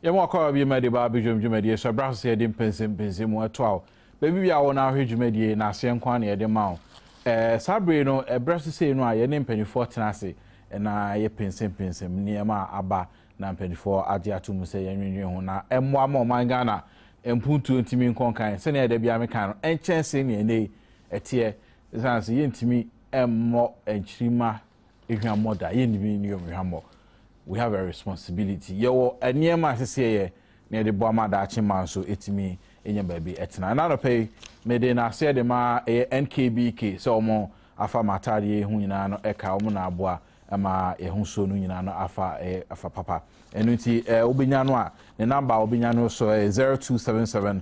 yɛma ɔkɔwa bi ma de ba abɛdwam dwumadie so ɛberɛ so sɛ yɛde mpɛnsɛmpɛnsɛ mu ɛto a wo baabi bi a wo no ahwɛ dwumadie na aseɛ nko a na yɛde ma wo ɛɛ saa bere no ɛberɛ so sei no a yɛne mpanimfoɔ tena ase na yɛ pɛnsɛmpɛnsɛm nneɛma a aba na mpanimfoɔ agye ato mu sɛ yɛnwenwen ho na ɛmmoa ma ɔman ghana mpuntuo ntumi nkɔnkan sɛnea ɛda biara meka no ɛnkyɛn se nea ɛnɛ ɛteɛ esiane sɛ yɛntumi mmɔ nkyirimma hwammɔ da, yɛntumi nni wɔn hwammɔ. We have a responsibility. Yɛwɔ nneɛma a ɛsɛ sɛ yɛyɛ na yɛde boa ma daakye mma nso atumi anya baabi atena. Ɛna anɔpa yi, mede nnaseɛ de ma ɛyɛ NKBK sɛ wɔn afa m'ataadeɛ yi ho nyinaa no ɛka wɔn na aboa ma yɛho suo no nyinaa no afa ɛyɛ afa papa. Ɛno nti, ɛɛ wobɛnya no a, ne namba a wobɛnya no so ɛyɛ 0277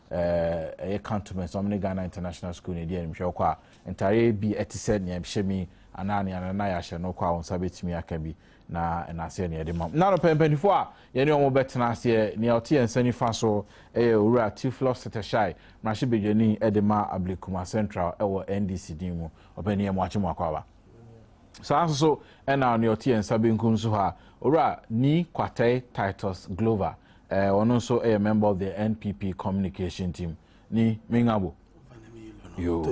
eh, ɛyɛ cantonment ɔmo ne ghana international school na ɛdi animhwɛ ɔkɔ a ntareɛ bi ɛte sɛ nea ɛhyɛ mi anaa nea nana yɛ ahyɛ no kɔ a wɔn nsa bɛtumi aka bi na ɛnaseɛ nea ɛde ma mu na no pɛmpɛnifoɔ a yɛne wɔn bɛtena aseɛ nea ɔte yɛn nsa nifa so ɛyɛ owura tiflɔ setɛhyɛe mmarahyɛ badwani ɛde ma ablekuma central ɛwɔ ndc din mu ɔpɛni yɛ mo akye mo akɔ aba Saa ara nso so na nea ɔte yɛn nsa benkum so ha, Owura Ni Kwatei Titus Glover, eh, ɔno nso yɛ member of the NPP communication team. Ni Mingabo. Yo,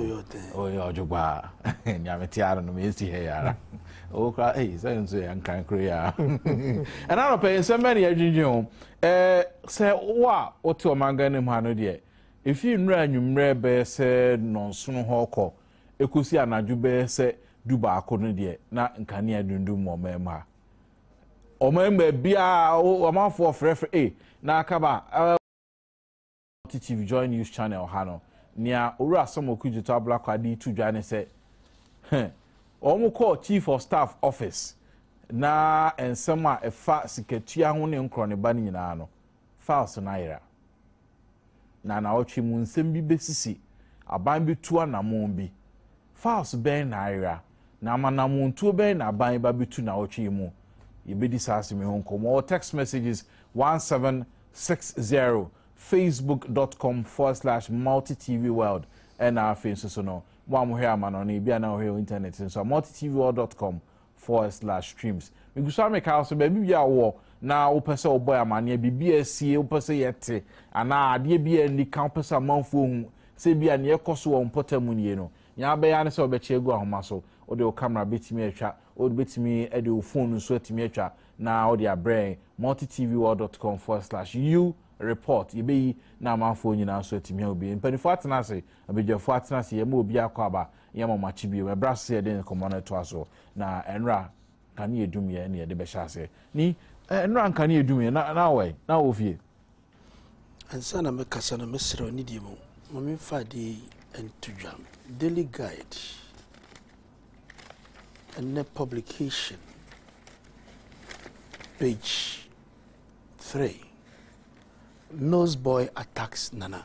oh yeah, Ojogba. Nyame te ara no, mesi ha yara. Oh, kra, eh, sɛ nso yɛ nkran koro ya. Ɛna no pɛ nsɛm bɛ ne adwindwin ho. Eh, sɛ wo a wote ɔmangan no mu ha no deɛ, efi nnura anwummerɛ bɛyɛ sɛ nɔnsono hɔ kɔ. Ɛkɔsi anadwo bɛyɛ sɛ dubaako no deɛ, na nkanea adundum wɔ ɔman mu ha. Ɔman mu baabiara, ɔmanfoɔ frɛfrɛ, e, na akaba, eh, Multi Chief Joy News Channel ha no, nea Owura Sam Okudzeto Ablakwa de reto dwa ne sɛ, heh, wɔn kɔɔ Chief of Staff Office na nsɛm a ɛfa sikatua ho ne nkorɔneba no nyinaa no, files no ayera, na naawɔtwe mu nsɛm bi besisi, aban betu anammɔn bi. Files bɛn na ayera, na amanamontuo bɛn na aban reba abetu naawɔtwe yi mu? Yɛbɛdi saa asɛm yi ho nkɔmmɔ wɔ Text Messages one seven six zero, facebook dot com forward slash multitvworld, ɛna afei nso so no, mo a mohwɛ amanɔne, ebia na wohwɛ wɔ internet so nso a, multitvworld dot com. forest la streams megu so a meka so baabi bi a wowɔ na wopɛ sɛ wobɔ amaneɛ biribi a asie wopɛ sɛ yɛte anaa adeɛ bi a nni ka wopɛ sɛ amanfoɔ hu sɛ bi a neɛ ɛkɔ so wɔ mpɔtam mu nie no nea abɛyɛ ne sɛ wobɛkyɛ agu ahoma so wode wo kamera bɛtumi atwa wode bɛtumi de wo fon nso atumi atwa na wode abrɛn multitvworld.com forward slash u report yɛbɛyi na amanfoɔ nyinaa nso atumi ahu bi mpanimfoɔ atena ase abadwafoɔ atena ase yɛma obi akɔ aba Yɛma mo akye bio. Ɛbrɛ ase sɛ yɛde nkɔmmɔ no toa so. Na ɛnora nkanea dum yɛ ne yɛde bɛhyɛ ase. Ni, ɛnora nkanea dum yɛ, na, na awɔ ɛ, na awɔ fie. Ansa na mɛkasa no, mɛsrɛ wo nidie mu. Ma memfa adeɛ yi nto dwa. Daily Guide, ɛnɛ publication, page 3. Nose boy attacks Nana.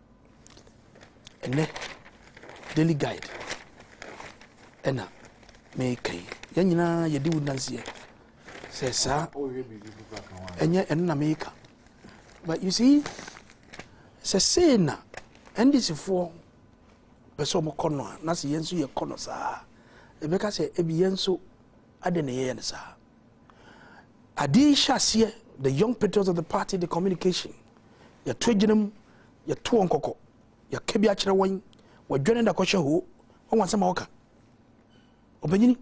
Ɛnnɛ, Daily Guide ɛna meka yi. Yɛn nyinaa yɛde wo nanseɛ sɛ saa ɛnyɛ ɛno na meka. But you see, sɛ sei na NDCfoɔ pɛ sɛ ɔmo kɔ no a na sɛ yɛn nso yɛkɔ no saa ɛbɛka sɛ ebi yɛn nso adɛn na yɛyɛ no saa. Ade yi hyɛ aseɛ the young patriots of the party the communication yɛto agyina mu yɛto wɔn kɔkɔ yɛka bi akyerɛ wɔn wɔdwɛne da kɔhyɛ hoo wɔn asɛm a wɔka ɔbɛnyini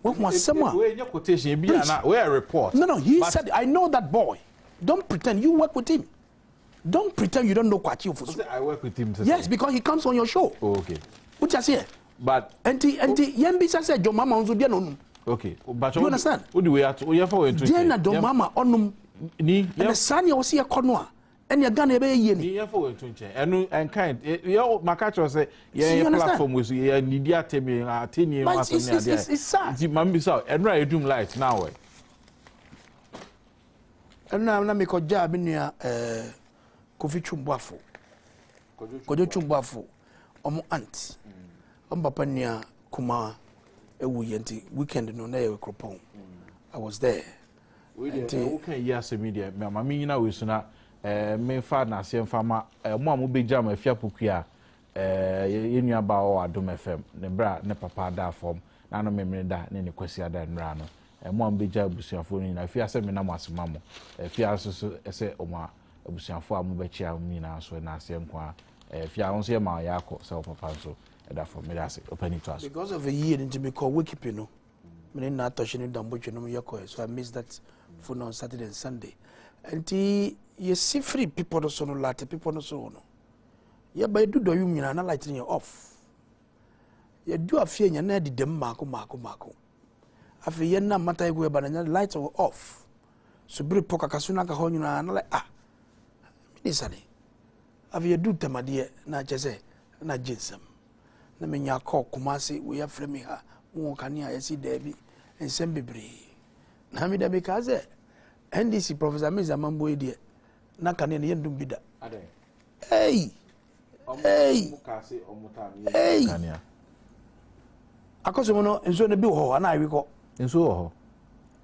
wɔn asɛm a wɔyɛ quotation ebi ana wɔyɛ report no no he but... said I know that boy don't pretend you work with him. don't pretend you don't know kwakye ofosu i work with him today yes because he comes on your show oh, okay o ti aseɛ but nti nti yɛn bi sase jɔn mama nso deɛ na onum okay but do you understand o de wei ato o yɛ fa wei nto deɛ na jɔn mama ɔnum ni yɛ ɛna saa ni a ɔsi yɛ kɔ no a ɛna ghana yɛ bɛ yɛ yie ni. yɛ fa wei nto nkyɛn ɛnu nkan yɛ maka kyerɛ sɛ yɛn yɛ platform wei so yɛ nidi atɛmi atɛni ɛmu asɛm ni adeɛ nti maame bi sa ɛnu a yɛ dum light na awɔ yɛ. Ɛna na mekɔgyaa me nua ɛɛ Kofi Twumboafo, Kwadwo Twumboafo, wɔn aunt, wɔn papa nua kumaa ewu yɛ nti weekend no na yɛ wɔ Kuropɔn. Mm. I was there. Wei deɛ ɛwo kan yi asɛm yi deɛ mɛ maame nyina wei so na ɛɛ eh, mefa n'aseɛ nfa ma ɛɛ eh, mo a mo bɛ gya mo afia pokua Ɛɛ yɛn nua baa wɔ Adom FM ne bere a ne papa adaa fam na ano memene da ne ne kwasi ada nnura ano. Ɛmo a mobɛgya abusuafoɔ no nyinaa fi ase mena mo ase ma mo. Ɛfi ara nso so sɛ ɔmo a abusuafoɔ a mobɛkyia wɔn nyinaa nso ɛna aseɛ nko ara. Ɛfi ara nso yɛ ma yɛ akɔ sɛ wɔ papa nso ɛda fam. Meda ase ɔpani to aso. Because of a year nti me kɔ Wikipi no. Me ne na atɔhye ne dambotwe nom yɛ kɔɛ so I miss that phone on Saturday and Sunday. Nti yɛsi firi pepɔ no so no late pepɔ no so no. yɛba yɛdu dɔyum nyinaa na light no yɛ off yɛdu afie nyɛ na ɛdedam mmaako mmaako mmaako afei yɛnam mata yɛgu yɛba no nyɛ light wɔ off so bere pɔ kakaso no aka hɔ nyinaa na like ah mene sane afei yɛdu ntamadeɛ na kyɛ sɛ na gye nsɛm na menya kɔɔ koma ase wei afrɛ me ha wowɔ kanea yɛsi daabi nsɛm bebree na meda mekaa sɛ ndc professor mesa mamboe deɛ na kanea no yɛndom bi da Ei! Ei! Ei! Kanea. Akɔso mu no nsuo no bi wɔ hɔ ana awi kɔ. Nsuo wɔ hɔ.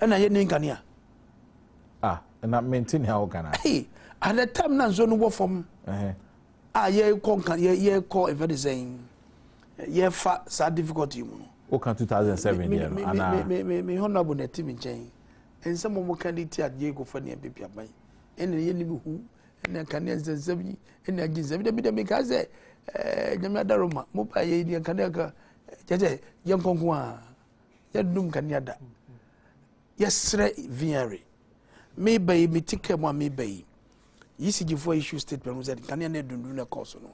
Ɛna yɛ ni nkanea. Ah, na mente nea woka no. Ei, at the time na nsuo no wɔ fam. Ɛhɛ. A yɛkɔ nka yɛ yɛkɔ ɛfɛ de sɛn. Yɛfa saa difficulty mu no. Woka 2007 deɛ no ana. Me me me me honorable na ɛte me nkyɛn. Nsɛm a wɔka de ti adeɛ kɔfa nea bɛpia ban. Ɛna yɛ ni bi hu ɛna nkanea nsɛnsɛm yi ɛna agye nsɛm dɛbi dɛbi nka sɛ ɛɛ nyame adaro ma mo ba yɛ yɛ nkanea ka kyɛ sɛ yɛ nkonko a yɛ dum nkanea da yɛsrɛ viare me ba yi me ti kɛ mu a me ba yi yisigyifo a issue statement sɛ nkanea na ɛdundun na ɛkɔɔ so no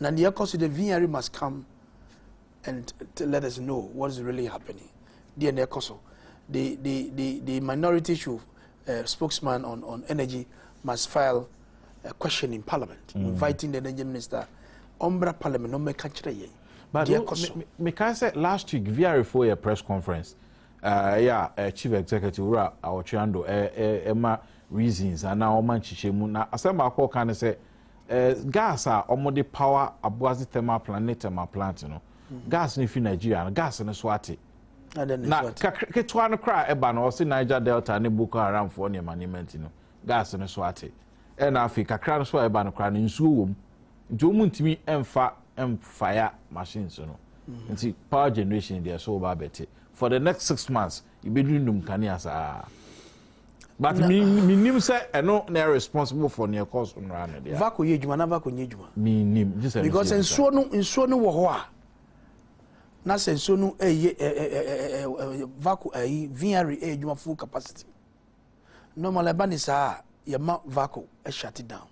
Na nea ɛkɔ so the VRE must come and let us know what is really happening. Deɛ na ɛkɔ so. The the the the minority should uh, spokesman on on energy must file a question in parliament mm. inviting the energy minister ɔmbra parliament ɔmɛka kyerɛ yɛn deɛ ɛkɔ so. meka sɛ last week vr fo yɛ press conference ɛyɛ uh, a uh, chief executive wura awɔtweando ɛma uh, uh, uh, reasons anaa ɔma nkyekyɛ mu na asɛm baako ɔka ne sɛ. Gas a wɔde power Aboadze Thermal Plant ne Thermal Plant no, gas no fi Nigeria no, gas no so ate. Na ketewa no koraa ɛba no, ɔse Niger Delta ne Boko Haram foɔ nneɛma nneɛma nti no, gas no so ate. Ɛna afei kakra no so a ɛba no koraa no, nsuo wɔ mu. Nti wɔn ntumi mfa mfaya machines no. Mm-hmm. Nti power generation deɛ so wɔba abɛte. For the next six months, yɛbɛdundum kanea saa. but menim sɛ ɛno na ɛ responsible for neɛ ɛkɔɔ so nnora no deɛ vako yɛ adwuma na vako nyɛ adwuma menim gye sɛ because nsuo no nsuo no wɔ hɔ a na sɛ nsuo no ɛyɛ eh, eh, eh, eh, vako ɛyi vineyard ɛyɛ adwuma full capacity normal ɛba ne saa a yɛma vako ɛhyate down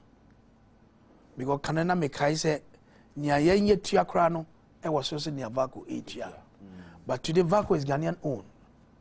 because kane na mekae sɛ nea yɛnyɛ tua koraa no ɛwɔ so sɛ nea vako ɛtua but today vako is ghanaian owned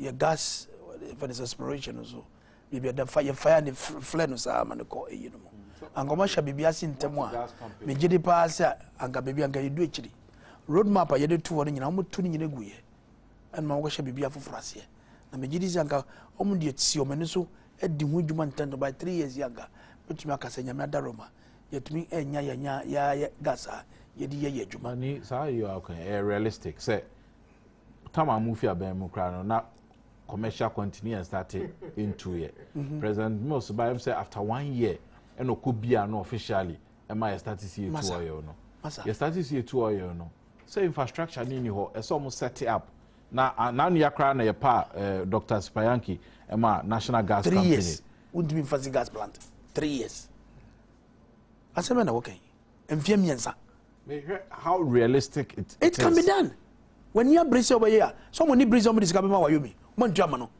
yɛ gas fɛ ne aspiration no so biribi ɛda fa yɛ fire ne flɛ no saa ma ne kɔ eyi no mu anka ɔmo ahyɛ biribi ase ntɛm a megye de paa sɛ anka biribi anka yɛdu akyiri road map a yɛde to hɔ no nyinaa ɔmo to no nyinaa gu yɛ ɛnna ɔmo kɔhyɛ biribi afoforɔ aseɛ na megye di sɛ anka ɔmo deɛ si ɔmo ani so adi ho adwuma ntɛntɛn by three years yi anka bɛtumi aka sɛ nyame adaro ma yɛtumi ɛnya yɛnya yɛayɛ gas a yɛde yɛ yɛ adwuma. ne saa yɛ akwan ɛyɛ realistic sɛ tam a mofi aban mu koraa no na commercial continue and start into yɛ mhm. president mills ba m sɛ after one year ɛna ɔkɔ bia no officially ɛma yɛ start si etu ɔyɛ no yɛ start si etu ɔyɛ no sɛ infrastructure ne ni hɔ ɛsɛ ɔmo set up na n'anua koraa na yɛ pa eh, dr sipayanki ɛma national gas company three years wontumi nfa si gas plant three years asɛm na wɔkɛn. mfeɛ mmiɛnsa. mehwɛ how realistic it, it, it can be done w'ani abere sɛ wɔbɛyɛ a sɛ wɔn ani bere sɛ wɔn de sika bɛma wayomi wɔn ntua ma no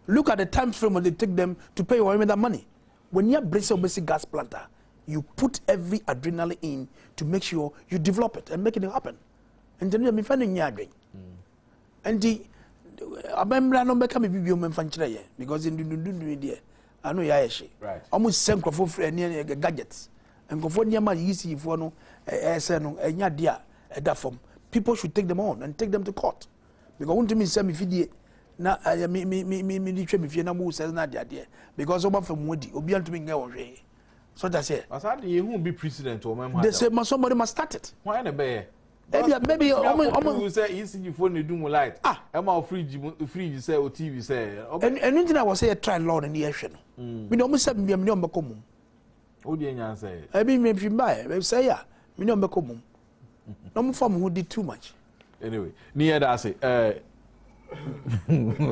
look at the time frame they take them to pay wayomi that money w'ani abere sɛ wɔbɛsi gas plant a you put every adrenaline in to make sure you develop it and make it happen nti no yɛ mefa no nyɛ adwen nti abɛmmra no bɛka me bibio mɛmfa nkyerɛ yɛ because ndundundundun deɛ ano yɛ ayɛ hye ɔmo sisɛ nkorɔfoɔ firi ɛne ɛne gadgets nkorɔfoɔ nneɛma yiyi si yifoɔ no ɛsɛ no ɛnyɛ adeɛ a ɛda fam people should take them on and take them to court because wɔn ntumi nsɛ mi fidie na ɛyɛ mi mi mi mi mi de twɛ mi fie na mo sɛ na adeɛ adeɛ because wɔn afɛ mu adi obi antumi nyɛ wɔn hwee so ta seɛ. ɔsan de yehu bi president wɔn mu ha da they say ma somebody must start it. wɔn ayɛ na ɛbɛyɛ. ebi a maybe ɔmo ɔmo. ɔmo sɛ ecg fo na edu mu light. ah ɛma o fridge mu fridge sɛ o tv sɛ. ɛnu ɛnu ti na wɔ sɛ yɛ try law na ni yɛ hwɛ no. mi na ɔmo sɛ mi ni ɔmo bɛ kɔ mum. o di enya nsɛ yɛ. ɛbi mi fi ba yɛ sɛ yɛ mi ni ɔmo bɛ kɔ mum na ɔmo fa mo ho di too much. anyway ni yɛ da ase ɛɛ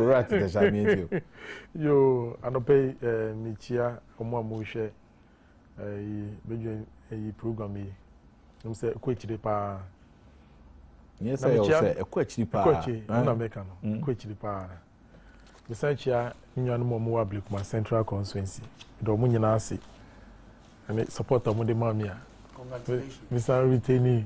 rat tɛ sa mi n ti o. yoo anɔpɛ yi ɛɛ mi kyia ɔmo a mo hwɛ. ɛyi bɛdwen ɛyi program yi ɛmu sɛ ɛkɔ akyire paa nyɛ sɛ yɛwɔ sɛ ɛkɔ akyiri paa ɛkɔ akyiri ɛna eh? mɛka no mm. ɛkɔ akyiri paa mesan kyia nnuanom a wɔwɔ ablekuma central constituency ɛdɛ wɔn nyinaa ase ɛne support a wɔde maa me a mesan retaining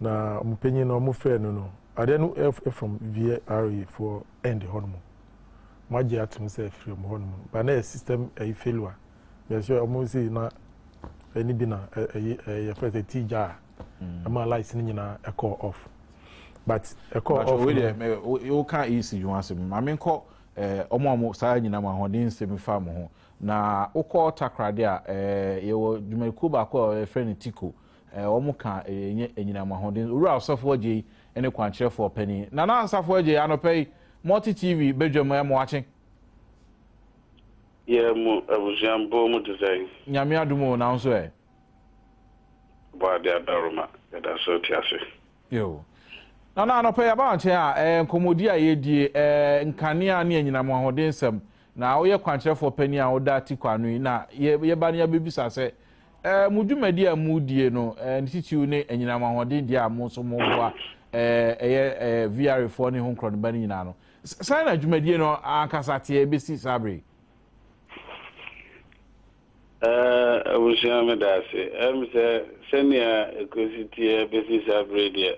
Na ɔmo panyin no ɔmo frɛ no no adeɛ no ɛf ɛfam VRA foɔ end hɔ nom mo agye atom sɛ ɛfiri ɔmo hɔ nom but na ɛyɛ system ɛyi failure yɛ sɛ ɔmo si na ɛni bi na ɛyi ɛyɛ yɛ fɛ sɛ ti gya a mm. ɛma lights no nyinaa ɛkɔ off but ɛkɔ off no ɛɛ o kan eyi si ho asɛm maame nkɔ ɛɛ eh, ɔmo ɔmo saa nyinaa mo ahoɔden nsɛm fa mo ho na okɔ takoradi a ɛɛ eh, yɛwɔ dwumadikuo baako a yɛfrɛ no tiko. wɔkaa ɛyɛ nyɛ anyinam ahoɔden Owura Ɔsɔfo Adjei ne Kwankyerɛfoɔ Panin Nana Asafo Adjei anɔpa yi Multi TV badwa mu ɛmo akye. Yɛ mo abusua bɔ mu te sɛn? Nyame adom o, na wo nso ɛ? Bɔ ade adɔre ma yɛda so te ase. Yoo. Nana anɔpa yi aba wo nkyɛn a, ɛɛ nkɔmmɔdi a yɛredie, ɛɛ nkanea ne anyinam ahoɔden nsɛm, na woyɛ kwankyerɛfoɔ panin a woda Tikwa ano yi, na yɛba no yɛabɛbisa sɛ, Mo dwumadi a modie no, ne titiriw ne anyinam ahoɔden deɛ a mo nso moboa ɛyɛ VRAfoɔ ne Ho Nkorɔnoba no nyinaa no, sɛn na dwumadie no ankasa teɛ bɛsi saa bere yi? Abusua, meda ase. Ɛm sɛ sɛnea ɛkɔsi teɛ bɛsi saa bere yi deɛ,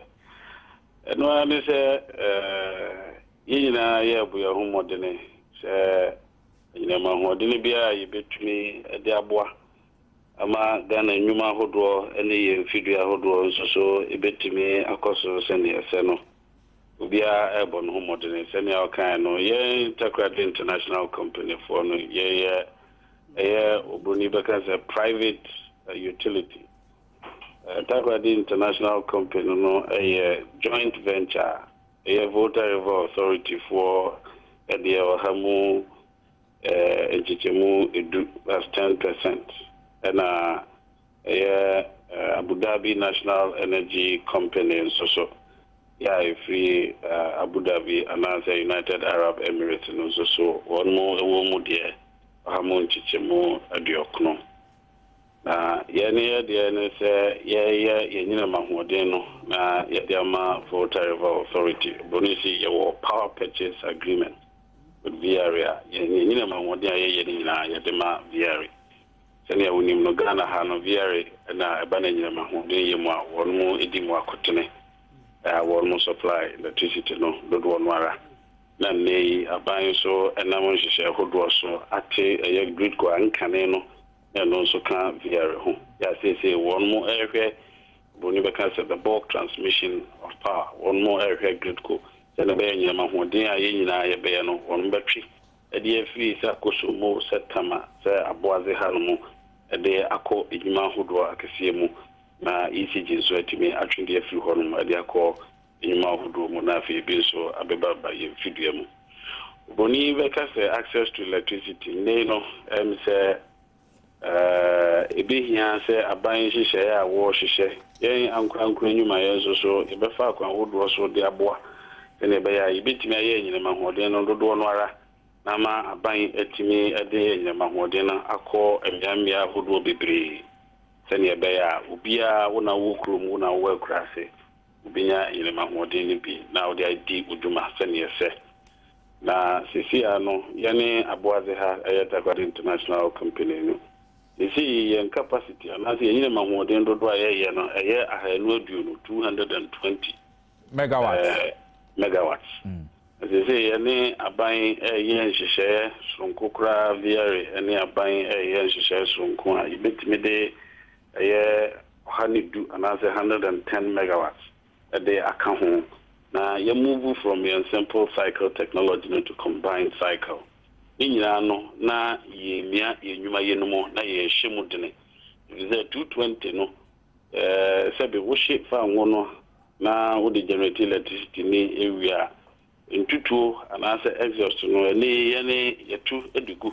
ɛno ara ne sɛ yɛn nyinaa yɛrebɔ yɛn ho mmɔdene sɛ Yɛnam ahoɔdene biara a yɛbɛtumi de aboa ma Ghana nnwuma ahodoɔ ne yɛn mfidie ahodoɔ nso so bɛtumi akɔ so sɛdeɛ ɛsɛ no. Obiara rebɔ ne ho mmɔdene. Sɛdeɛ ɔkaeɛ no, yɛn Takoradi International Company foɔ no, yɛyɛ ɛyɛ obroni bɛka sɛ private utility. Takoradi International Company no yɛ joint venture a. ɛyɛ Volta River Authority foɔ deɛ ɔha mu nkyekyɛmu edu, that's ten percent, ɛna ɛyɛ Abu Dhabi National Energy Company nso so yɛ a ɛfiri Abu Dhabi anaasɛ United Arab Emirates no nso so wɔn wɔ mu deɛ ɔha mu nkyekyɛmu aduɔkono. Na yɛn ne yɛ deɛ ne sɛ yɛyɛ yɛn nyinam ahoɔden no na yɛde ama Volta River Authority, Borɔno yi se yɛwɔ Power Purchase Agreement with VRA a yɛn yɛn nyinam ahoɔden a yɛyɛ no nyinaa yɛde ma VRA. Sɛnea wonim no Ghana ha no VRA na ɛba no anyinam ahoɔden yɛ mu a wɔn mo di mu akotene a wɔn mo supply electricity no dodoɔ no ara na nnɛ yi aban nso ɛnam nhyehyɛɛ hodoɔ so ate ɛyɛ Gridco a nkane no na ɛno nso ka Viare ho. Yɛ a seesei wɔn rehwɛ, Oburoni bɛka sɛ, the bulk transmission of power, wɔn rehwɛ Gridco, sɛnea ɛbɛyɛ nnyina ma ahoɔden a yɛn nyinaa yɛbɛyɛ no, wɔn bɛtwe de afiri sɛ akɔ Sombo, sɛ Tama, sɛ Aboadze ha no mu de akɔ edwuma ahodoɔ akɛseɛ mu, na ECG nso atumi atwe de afiri hɔnom de akɔ nnwuma ahodoɔ mu na afei ebi nso abɛba ba yɛn mfidua mu. Obroni yi bɛka sɛ access to electricity nnɛ yi no ɛm sɛ ɛbɛhia sɛ aban nhyehyɛeɛ a wɔrehyehyɛ yɛn ankorankoro nnwumayɛ nso so yɛbɛfa akwan ahodoɔ so de aboa sɛdeɛ ɛbɛyɛ a yɛbɛtumi ayɛ anyinam ahoɔden no dodoɔ no ara na ama aban atumi de anyinam ahoɔden no akɔ mmea mmea ahodoɔ bebree sɛdeɛ ɛbɛyɛ a obiara wo na wowɔ kurom wo na wowɔ akuraase wobenya yerem ahoɔden no bi na wode adi wo dwuma sɛnea ɛsɛ. Na seesei ara no, yɛne aboadze ha, ɛyɛ Dagwad International Company no, seesei yɛn capacity anaasɛ yɛn yerem ahoɔden dodow a yɛyɛ no, ɛyɛ ahaanu aduonu, two hundred and twenty, Megawatts. eh, megawatts. Na seesei yɛne aban reyɛ nhyehyɛɛ soronko koraa, VERE ne aban reyɛ nhyehyɛɛ soronko a yebetumi de ɛyɛ ɔha ne du anaasɛ hundred and ten megawatts de aka ho na yɛ move from yɛn simple cycle technology no to combined cycle. Ne nyinaa no na yɛremia yɛn nnwuma yɛ no mu na yɛrehyɛ mu dene efisɛ two twenty no sɛbe wohye fa ngo no na wode generate electricity no wie a, Ntutuo anaasɛ exhaust no, ɛne yɛn yɛtu de gu.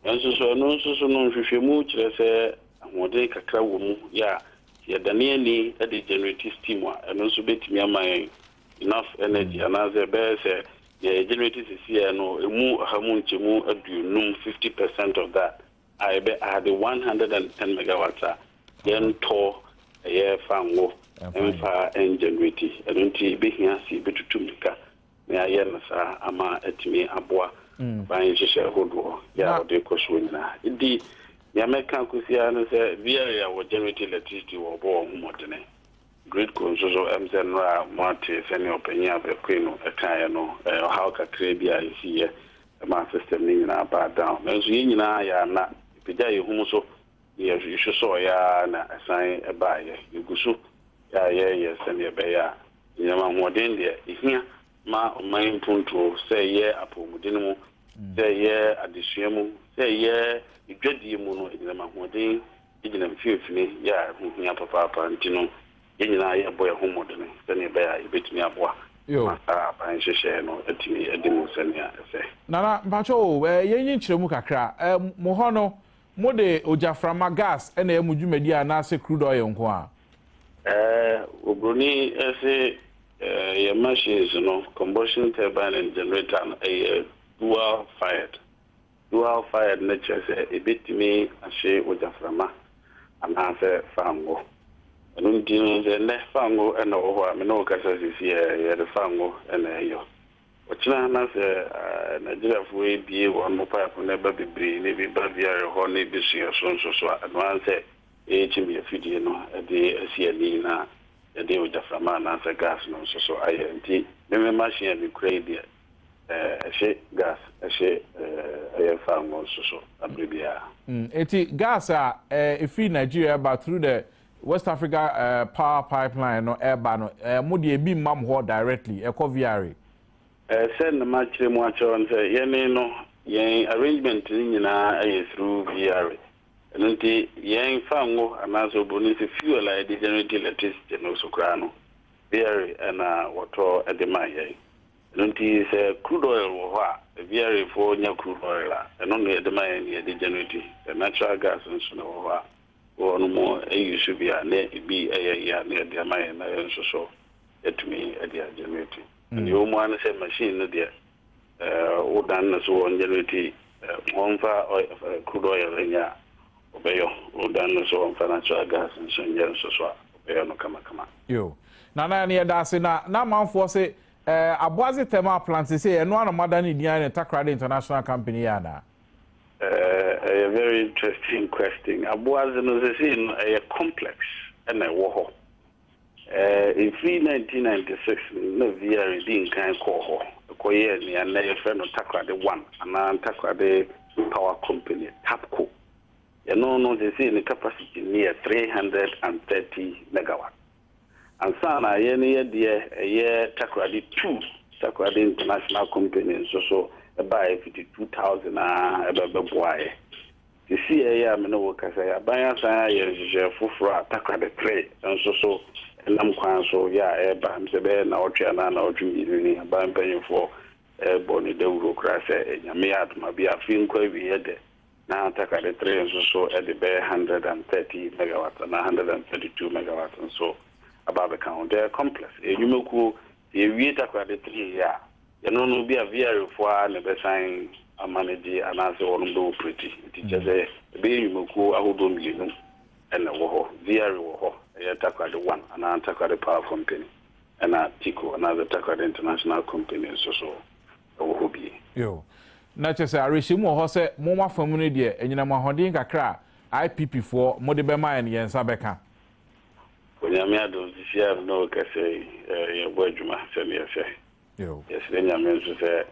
Nanso so ɛno nso so no, nhwehwɛmu kyerɛ sɛ ahoɔden kakra wɔ mu yɛ a, sɛ yɛdane ani de generate steam a, ɛno nso bɛtumi ama yɛn enough energy anaasɛ ɛbɛyɛ sɛ deɛ yɛ generate sesei no, ɛmu ɔha mu nkyɛmu aduonum, fifty percent of that, a ɛbɛ add one hundred and ten megawatts a yɛn tɔ ɛyɛ fa ngo ɛnfa ɛn generate ɛno nti ɛbɛhia sɛ yɛbɛtutu mirika na yɛayɛ no saa ama atumi aboa mm. ban nhyehyɛ hodoɔ yɛ a wɔde kɔ soɔ nyinaa ɛdi nea mɛka kɔsi ara no sɛ biara wɔ generate electricity wɔ ɔbɔ wɔn ho mmɔdene Gritco nso so ɛm sɛ nnora a mo ate sɛnea ɔpanyin a bɛkoe no ɛkaeɛ no ɛɛ ɔhaw kakraa bi a ɛsiiɛ ɛmaa system no nyinaa baa down nanso yɛn nyinaa yɛ ana yɛpagyaa yɛn hum so na yɛ yɛsosɔɔeɛ ara na ɛsan ɛbaaeɛ yɛgu so yɛ a yɛreyɛ sɛnea ɛbɛyɛ a nneɛma ahoɔden deɛ ɛhia ma ɔman mpuntuo sɛ ɛyɛ apɔwmuden mu sɛ ɛyɛ adesua mu sɛ ɛyɛ dwadie mu no ɛgyinam ahoɔden gyina mfimfini yɛ a ɛho hia papaapa nti no, yɛn nyinaa yɛrebɔ yɛn ho mmɔden sɛnea ɛbɛyɛ a yɛbɛtumi aboa ma saa aban nhyehyɛeɛ no atumi adi mu sɛnea ɛsɛ. Nana, mpakyɛw o, yɛnyi nkyerɛmu kakra. Mo hɔ no, mode ogyaframa, gas, na ɛyɛ mo dwumadi anaasɛ crude oil nko ara? Oburoni se, Yɛn machines no, combustion turbine and generator no, ɛyɛ dual fired. Dual fired no kyerɛ sɛ ebetumi ahye ogyaframa anaasɛ fango. Ɛno nti no, sɛ nnɛ fango na ɔwɔ hɔ a me ne wo kasa sisi a, yɛde fango na ɛyɔ. Ɔkyena na sɛ Nigeriafoɔ ebie wɔn pipe no ɛba bebree na ebi ba Viare hɔ na ebi so yɛn so nso so a, ɛno ara ne sɛ yɛyɛ kyimii afidie no de asi ani na yɛde ogyaframa anaasɛ gas no nso so ayɛ. Nti me me machine a mekura yi deɛ, ɛhye gas ɛhye ɛyɛ faa ngo nso so abere biara. Eti gas a efiri Nigeria ɛba through the West Africa power pipeline no ɛba no mo deɛ ebi mma mo hɔ directly ɛkɔ VRA? Sɛ na makyerɛ mu akyerɛ wo no sɛ yɛne no yɛn arrangement no nyinaa ɛyɛ through VRA ɛno nti yɛn faa ngo anaasɛ obroni sɛ fuel a yɛde generate electricity no so koraa no Beere na wɔtɔ de ma yɛn. Ɛno nti sɛ crude oil wɔ hɔ a, Beerefoɔ nya crude oil a, ɛno na yɛde ma yɛn na yɛde generate. Sɛ natural gas nso na ɛwɔ hɔ a, wɔnom use bi a, na ebi yɛ yɛ a, na wɔde ama yɛn na yɛn nso so yɛatumi de agenerate. Deɛ ɛwɔ mu ara ne sɛ machine no deɛ, wodan no so ɔngyɛnreti ɔmfa crude oil nyɛ a ɔbɛyɔ, wodan no so ɔmfa natural gas nso nyɛ nso so a ɔbɛyɔ no kamakama. Yo. Nana ɛno yɛda ase na n'amanfoɔ se ɛɛ Aboadze Thermal a plant sesei ɛno ara na moada ne din ayɛ no Takoradi International Company yi anaa? Ɛɛ ɛyɛ very interesting question. Aboadze no sesei no ɛyɛ complex ɛna ɛwɔ hɔ. Ɛfiri 1996 no na VR dii nkan kɔɔ hɔ kɔyɛɛ nea nnɛ yɛfrɛ no Takoradi One anaa Takoradi Power Company, Tapco. Ɛno no, seesei ne capacity no yɛ 330 megawatts. Ansa na yɛn no yɛ deɛ ɛyɛ Takoradi Two, Takoradi International Company nso so baeɛ fiti 2000 ara bɛboaeɛ. Sisi a ɛyɛ a me ne wo rekasa yi, aban asan ayɛ nhyehyɛe foforo a takrade tere nso so nam kwan so yɛ a ɛreba me sɛ bɛyɛ nnawɔtwe anaa nnawɔtwe mmienu ni. Aban mpanyimfoɔ rebɔ no dawuro koraa sɛ Nyame yɛ adom a bia afe nkɔ awieɛ dɛ na takrade tere nso so de bɛyɛ hundred and thirty megawatts anaa hundred and thirty two megawatts nso aba abɛka ho. Dɛ Complex, ɛyɛ nnwumakuo, sɛ yɛwie takrade tere yi a, Ɛno no ebia VR fo ara na ɛbɛsan ama no gye anaasɛ wɔnom bɛ operate. Nti kyerɛ sɛ ɛbɛyɛ nnwumakuo ahodoɔ mmienu na ɛwɔ hɔ. VR wɔ hɔ, ɛyɛ Takoradi One anaa Takoradi Power Company ɛna TICO anaasɛ Takoradi International Company nso so wɔ hɔ bi. Yo. Na kyerɛ sɛ awerɛhyɛmu wɔ hɔ sɛ mo mo afa mu no deɛ anyinam ahoɔden kakra a IPP foɔ mo de bɛmaeɛ no yɛn nsa bɛka. Onyame adom, sisiaa me ne wo kasa yi yɛbɔ adwuma sɛdeɛ ɛsɛ. Eww. Yɛsrɛ Nyame nso sɛ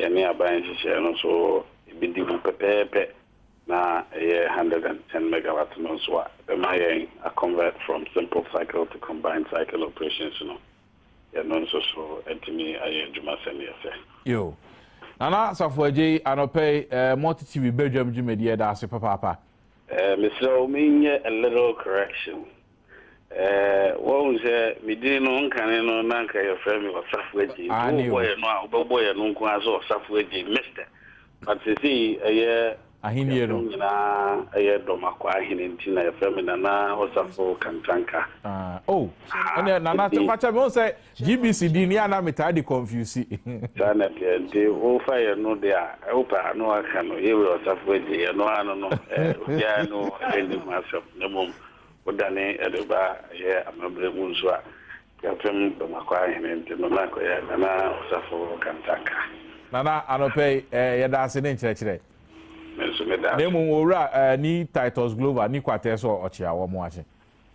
yɛne aban nhyehyɛɛ no nso ɛbɛdi mu pɛpɛɛpɛ na ɛyɛ hundred and ten megawatt no nso a, ɛbɛma yɛn a convert from simple cycle to combined cycle operations no, yɛno nso so atumi ayɛ adwuma sɛdeɛ ɛsɛ. Eww. Nana Asafo Adjei, anɔpa yi, Multi TV Badwam dwumadie, yɛda ase papaapa. Mesrɛ wo menyɛ a little correction. Ɛɛ, woahu sɛ me din no nkane no na anka yɛfrɛ me Ɔsafo Agye. Nti Aane o. wobɔ yɛn no a, wobɛbɔ yɛn no nko ara sɛ Ɔsafo Agye, Mister. But seesei ɛyɛ Ahennie yɛn ho no. nyinaa yɛ Dɔmakɔ Ahene nti na yɛfrɛ me Nana Ɔsafo Kantanka. Ah, oh. Aha, Ɛnneɛ Nana, nti, fa kyɛ me, wohu sɛ GBC din no, yɛ a na metaa de kɔnfiusi. saa na ɛteɛ. Nti wofa yɛn no deɛ a, wopɛ a, na woaka no, Yewei Ɔsafo Agye, ɛno ara no no. Ɛɛ, obiara ne wo nni ho asɛm, na mmom Wodane ɛde ba yɛ amammerɛ mu nso a, Gyapem Bamakɔ ahene nti no na kɔyɛ Nana Ɔsafo Kantanka. Nana, anɔpɛ yi, eh, yɛda ase ne nkyerɛkyerɛ. Me nso meda ase. Na mmom Owura, eh, ni Titus Glover ni kwatɛ sɛ ɔkye a wɔn akye.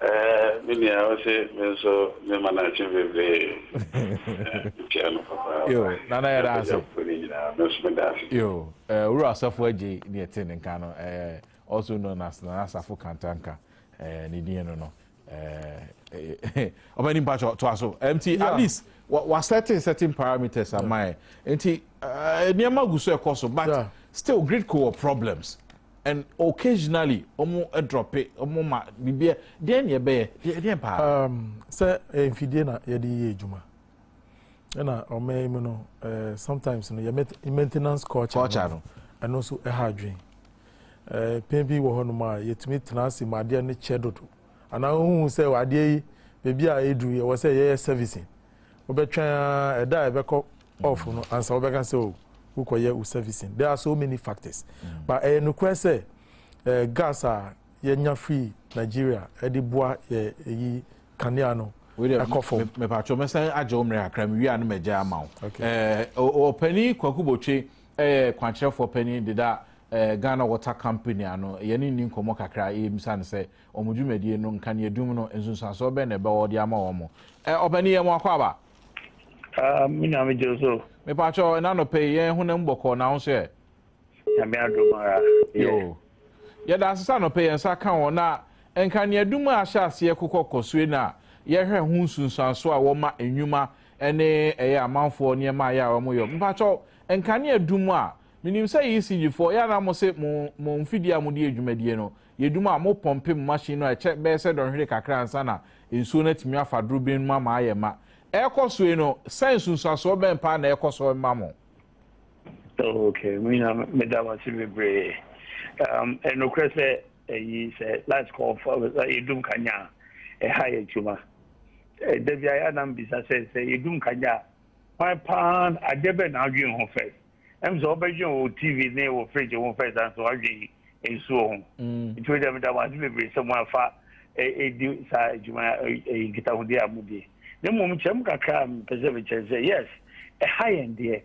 Eh, me nua, ɔse me nso me ma no akye bebree. Eh, mekyia no papa. Yo, Nana yɛda ase. Gyapem Bamakɔ ne nyinaa, me nso meda ase. Yo, eh, Owura Ɔsafo Adjei, deɛ ɛte ne nka no, eh, also known as Nana Asafo Kantanka eh, ne din no no ɔbɛni eh, eh, mpakyɛ toa so nti at least wa certain certain parameters ama yɛ nti nneɛma gu so ɛkɔ so but still grid co wɔ problems and occasionally ɔmo drop it ɔmo ma biribi deɛ ne ɛbɛyɛ deɛ paa. sɛ mfidie na yɛde yɛ adwuma ɛna ɔman yi mu no ɛɛ sometimes no yɛ maintenance culture culture no ɛno nso ɛha adwene ɛɛ pɛn bi wɔ hɔnom a yɛtumi tena ase ma adeɛ no kyɛ dodo anaa ohun sɛ adeɛ yi beebi a edu yɛ wɔ sɛ yɛyɛ servicing wobɛtwɛn a ɛda a ɛbɛkɔ off no ansa wobɛka sɛ o oh, wokɔyɛ wo servicing there are so many factors mm. but ɛyɛ nokorɛ sɛ ɛɛ gas a yɛnya free Nigeria ɛde boa yɛ eyi. kanea no kɔ fam. mepatwo mɛsan agye wo mmerɛ kakra mewie a no magya ama wo ɔpani kwaku botwe ɛyɛ kwankyerɛfoɔ pani deda Ghana Water Company ano yɛne nni nkɔmmɔ kakra yɛmisa no sɛ wɔn dwumadie no nkaneadum no nsunsuansoɔ bɛn na ɛbɛwɔ de ama wɔn ɔpani yɛ mo akɔ aba me nyame gye so mepatwo ɛna nɔpɛ yɛn honam bɔkɔɔ na wo nso ɛ Nyame adom ara. Yo. Yɛda ase sɛ anɔpɛ yɛn nsa ka wɔn a nka nea dum a ahyɛ aseɛ kokɔ kɔ so yi na yɛhwɛ ho nsunsuansoɔ a ɛwɔ ma nnwuma ne ɛyɛ amanfoɔ nneɛma a ɛyɛ a wɔyɔ. Mpakyɛw, nkanea dum a menim sɛ ECG foɔ yɛ a na mo se mo mo mfidie a mode yɛ dwumadie no yɛ dum a mo pɔmpe mo machine no a ɛkyɛ bɛyɛ sɛ dɔnhwere kakra ansa na nsuo no atumi afa duro bin no mu ama ayɛ ma ɛrekɔ so yi no sɛn nsunsuansoɔ bɛn paa na ɛrekɔ so ma mo? Oh, okay, me nyina meda wo ase bebree. Um, ɛnokorɛ sɛ ɛyi sɛ last call fa yɛdum kanya a ɛha yɛ adwuma. Da bi ayɛ anam bisa sɛ sɛ yɛdum kanya a kwan paa adeɛ bɛ na adwene ho first. Ɛm sɛ wobɛdwene wɔ TV ne wɔ fridge ho first ansa wadwene nsuo ho nti wogya meda mo ase bebree sɛ mo afa ɛdi saa adwuma nkitahodie a modie na mmom kyɛm kakra mpɛ sɛ mekyerɛ sɛ yes ɛha yɛn deɛ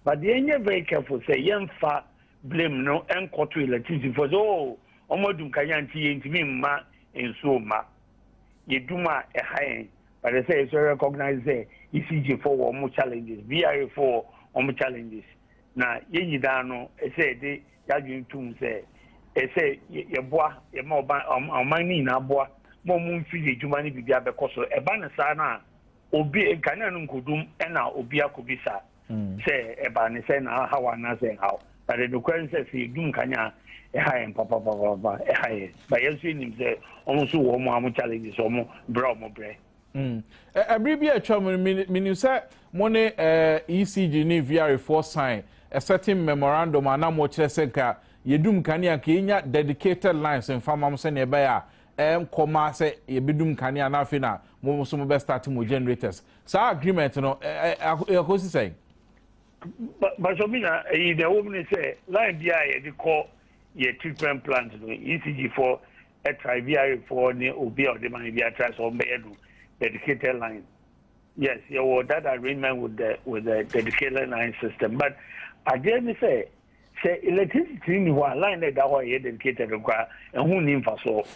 but deɛ ɛnyɛ very careful sɛ yɛmfa blame no ɛnkɔto electricity fo sɛ oo oh, ɔmo adum kanya nti yɛntumi mma nsuo mma yɛdum a ɛha yɛn but ɛsɛ yɛ sɛ recognize sɛ ECG fo wɔ ɔmo challenges BRA fo wɔ ɔmo challenges na yɛn nyinaa no ɛsɛ yɛde y'adwene to mu sɛ ɛsɛ sɛ yɛboa, yɛma ɔman no nyinaa boa ma wɔmfi yɛ adwuma ne biribiara bɛkɔ so. Ɛba no saa no a, obi, nkanea no nkodum na obi akɔbisa hmm. sɛ ɛbaa ne sɛ na ahaw anaasɛ ɛhaw. Na de nokorɛ no sɛ sɛ yɛdum nkanea a, ɛha yɛn papapapapa, ɛha yɛn. Ba yɛn nso yɛnim sɛ wɔn nso wɔ wɔn a wɔn challenges, wɔn brɛ a wɔn brɛ. Mm. Ɛbere bi a atwa mu no, menim sɛ mo ne ECG ne VRA foɔ sign a certain memorandum a na mo kyerɛ sɛ nka yɛdum kanea nka yɛnya dedicated lines mfa ma mo sɛnea ɛbɛyɛ a ɛnkɔ ma sɛ yɛbɛdum kanea na afei na mo nso mo bɛ start mo generators saa agreement no ɛkɔsi sɛn. Basɔ mi na ɛyi na ɛwɔ mu ne sɛ line bi a yɛde kɔ yɛ treatment plant no ECG foɔ Tribarifoɔ ne obi a ɔde ma yɛn biara try sɛ ɔmbɛyɛ no dedicated line. Yes, yɛwɔ that arrangement with the with the dedicated line system. But adeɛ ne sɛ sɛ electricity ni hɔ a line na ɛda hɔ a ɛyɛ dedicated nkora ɛho nni mfasoɔ.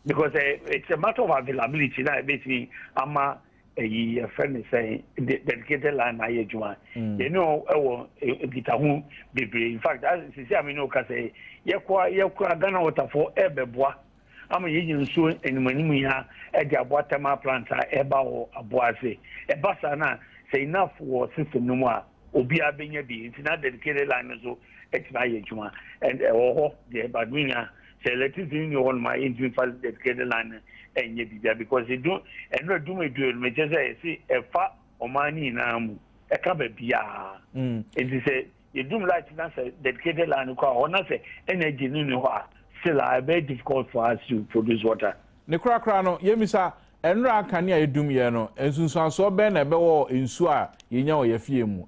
Because uh, it's a matter of availability na ɛbɛtumi ama ɛyi yɛfrɛ no sɛ dedicated line na ayɛ adwuma mm. yɛne ɛwɔ e, e, nkitaho bebree in fact sisi a mene woka sɛ yɛkɔa yɛkora ghana waterfoɔ ɛbɛboa ama yɛnya nsuo animanim yi a ɛde aboa thermal plant a ɛba wɔ aboa ase ɛba saa no a sɛ enough wɔ system no mu a obiara bɛnya bi nti na dedicated line no nso atumi ayɛ adwuma and ɛwɔ hɔ deɛ but menya sɛ electricity nni hɔ noma ɛntumi fa dedicated line no ɛnyɛ biribia because ɛdu ɛnura dum ɛdu ɛnuma kyɛ sɛ ɛsi ɛfa ɔman no nyinaa mu ɛka baabiaa mm. nti sɛ yɛdum light na sɛ dedicated line kɔ a hɔ na sɛ energy no ni hɔ a still a ɛbɛyɛ difficult for us to produce water Ne korakora no, yemmisa, Nnora a kanea adum yɛn no, nsunsuansoɔ bɛn na ɛbɛwɔ wɔ nsuo a yɛnya wɔ yɛn afie mu?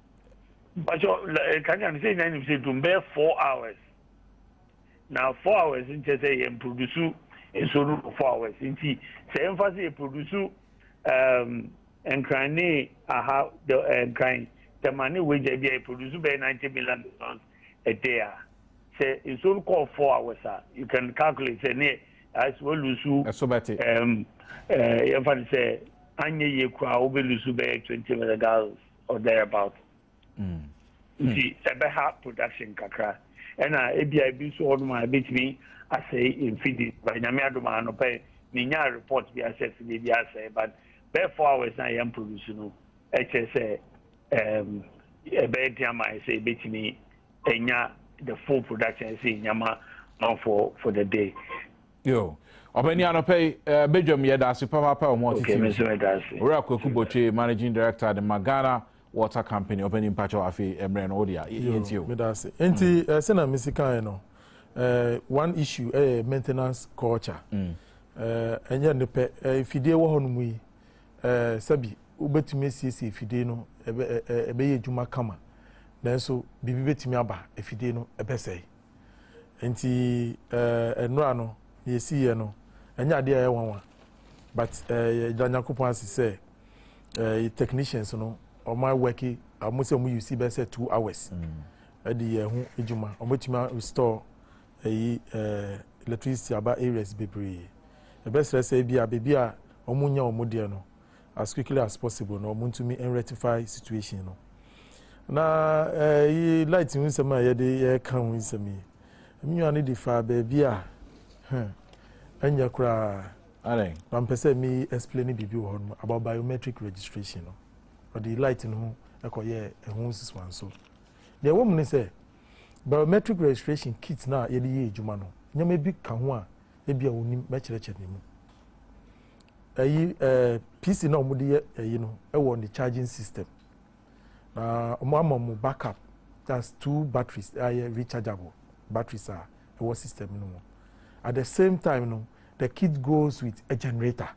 Mpakyɛw, kanea no, sɛ nyinaa nim sɛ ɛdum bɛyɛ four hours. Na four hours no kyerɛ sɛ yɛn produsu nsuo no wɔ four hours. Nti sɛ yɛmfa sɛ yɛ produsu um, nkran ne aha, eh, nkran, tɛma ne wagya bi a yɛ produsu bɛyɛ ninety million gallons ɛdɛ a, sɛ nsuo no kɔɔ four hours a, you can calculate sɛ neɛ ayɛ sɛ walusu ɛso bɛte um, uh, yɛmfa no sɛ anyɛ yie koraa wobɛlusu bɛyɛ twenty million gallons or thereabout mm. nti ɛbɛha production kakra ɛna ebia ebi nso hɔ nom a ebetumi asɛe mfidi ba nyame adom a anɔpɛ menya report bi asɛ fidie bi asɛe but bɛɛ four hours na yɛn produce no ɛkyerɛ sɛ Um, ɛbɛyɛ den ama yɛn sɛ yɛbɛtumi anya the full production sɛ nyama manfoɔ for the day. yo ɔbɛni anɔpɛ yi eh, badwam yɛda ase papaapa wɔn atete so owura kwaku botwe managing director de ma ghana water company ɔbɛni mpakyɛw afei eh, mmerɛ no wode a yɛntie o meda ase nti mm. eh, sɛ na mesi kae no one issue ɛyɛ maintenance culture ɛnyɛ ne pɛ fidie wɔ hɔ no mu yi sɛbi wobɛtumi asiesie afidie no ɛbɛ ɛ ɛbɛyɛ adwuma kama nanso biribi bɛtumi aba afidie no ɛbɛsɛe nti ɛɛ nnora no na yɛsiiɛ no ɛnyɛ adeɛ a ɛyɛ nwanwa but ɛɛ yɛda nyankopɔn ase sɛ ɛɛ technicians no wɔn awɛki wɔn sɛ wɔn yusi bɛsɛ two hours ɛde yɛ ɛho adwuma wɔn bɛtumi restore ɛyi ɛɛ electricity aba areas bebree ɛbɛsrɛ sɛ ebi a beebi a wɔn nya wɔn deɛ no as quickly as possible na wɔn ntumi rectify situation no na ɛyi light ho nsɛm a yɛde yɛka ho nsɛm yi ɛmi nua no de fa beebi a hmm, ɛnyɛ koraa na mpɛ sɛ mi explain biribi wɔ hɔ no about biometric registration no ɔde light no ho ɛkɔyɛ ɛho nsusuanso deɛ ɛwɔ mu ne sɛ. Biometric registration kit no a yɛde yɛ adwuma no, nneɛma bi ka ho a ebia wunnim, mɛkyerɛkyerɛ ne mu. Ɛyi ɛɛ PC na wɔde yɛ ɛyi no wɔ ne charging system. Na wɔn ama mu backup that's two batteries a yɛ rechargeable batteries a ɛwɔ system no mu. At the same time no the kit goes with a generator.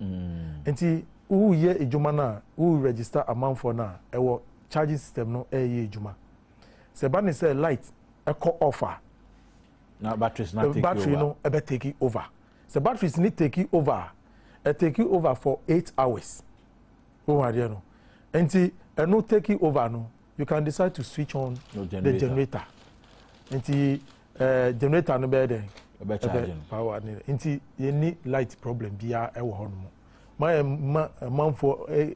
Mm. Nti woyɛ adwuma no a wo register amanfoɔ no a ɛwɔ charging system no ɛyɛ adwuma. sɛ ɛba ne sɛ light ɛkɔ off a na batteries na take battery over. no ɛbɛ take over sɛ batteries ni take over a ɛ take over for eight hours ohun adeɛ no nti ɛno take over no you can decide to switch on no generator. the generator nti ɛɛ eh, generator no bɛyɛ dɛ ɛbɛ charge no power ne nti yɛ ni light problem biara ɛwɔ hɔ nom mayɛ ma manfoɔ ɛɛ.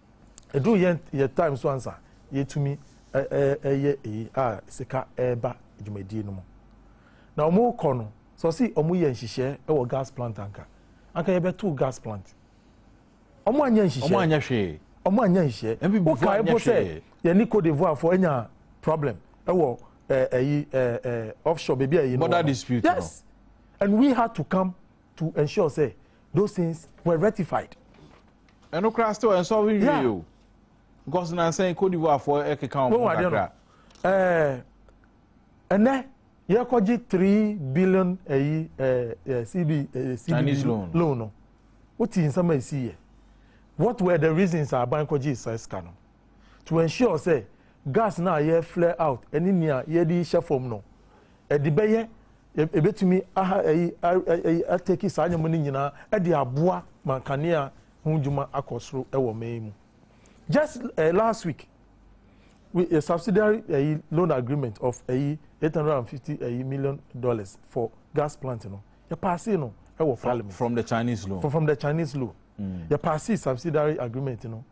Ɛduru yɛn yɛn time so ansa yɛtumi ɛyɛ eyi a sika ɛreba dwumadie no mu. Na wɔn rekɔ no sɛ ɔsi wɔn yɛ nhyehyɛ ɛwɔ gas plant anka anka yɛbɛto gas plant. Wɔn anyɛ nhyehyɛ. Wɔn anyɛ hwee. Wɔn anyɛ nhyehyɛ. Ɛbi bi fo anyɛ hwee. Wokae po sɛ yɛn ni Cote d'Ivoire fo anya problem ɛwɔ ɛyi ɛɛ offshore baby a yɛn wɔ. Border dispute no. Yes and we had to come to ensure sɛ those things were rectified. ɛno koraa still ɛnsɔ we wie o because nansa yi cote divoire foɔ ɛkeka wɔn ho kakra. ɛnɛ yɛkɔgye three billion ɛyi ɛɛ cb ɛɛ cb loan no o ti nsɛm a esi yɛ what were the reasons a aban kɔgye sika no. to ensure sɛ gas no a yɛ flare out ne nea yɛde hyɛ fam no, ɛde bɛyɛ ebetumi aha ɛyi ɛyi ateki saa nneɛma no nyinaa ɛde aboa ma nkanea ho dwuma akɔ soro ɛwɔ man yi mu. Just uh, last week, we a subsidiary uh, loan agreement of uh, 850 uh, million dollars for gas plant no yɛ paase no ɛwɔ parliament from the chinese loan from, from the chinese loan mm. yɛ paase subsidiary agreement no